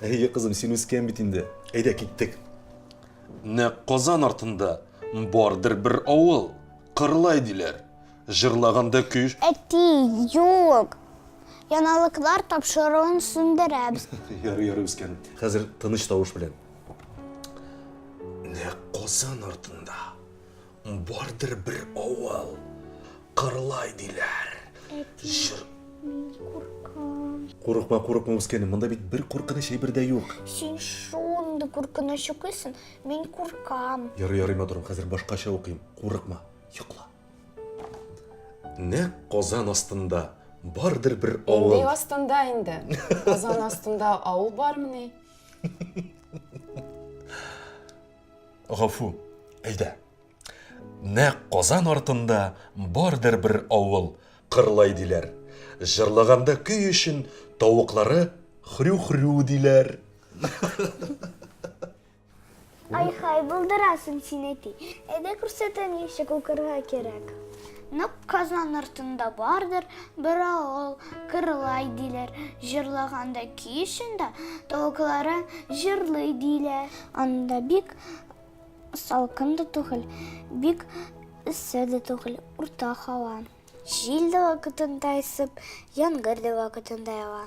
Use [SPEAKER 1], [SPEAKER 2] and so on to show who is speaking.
[SPEAKER 1] Әйе, кызым, син
[SPEAKER 2] үскән бит инде. Әйдә, киттек. Нәкъ Казан артында бардыр бер авыл, Кырлай диләр. Җырлаганда көч. Әти,
[SPEAKER 1] юк. Яналыклар тапшыруын сүндерәбез. Ярый, ярый, үскәнем.
[SPEAKER 2] Хәзер тыныч тавыш белән. Нәкъ Казан артында. Бардыр бер авыл, Кырлай диләр. Әти, Җыр... мин куркам. Курыкма, курыкма, үскәнем, монда бит бер куркыныч әйбер дә юк. Син шундый
[SPEAKER 1] куркыныч укыйсың, мин куркам. Ярый, ярый, матурым, хәзер
[SPEAKER 2] башкача укыйм. Курыкма, йокла. Нәкъ казан астында бардыр бер авыл. Нинди астында инде?
[SPEAKER 3] Казан астында авыл бармыни?
[SPEAKER 2] Гафу, әйдә. Нәк Казан артында бардыр бер авыл, Кырлай диләр. Җырлаганда көй өчен тавыклары хрю-хрю диләр.
[SPEAKER 1] Ай-хай, булдырасың син, әти. Әйдә күрсәтәм ничек укырга кирәк. Нәк Казан артында бардыр бер авыл, Кырлай диләр. Җырлаганда көй өчен дә тавыклары җырлый диләр. Анда бик салкын да түгел, бик эссе дә түгел, урта һава. Җил дә вакытында исеп, яңгыр да вакытында ява.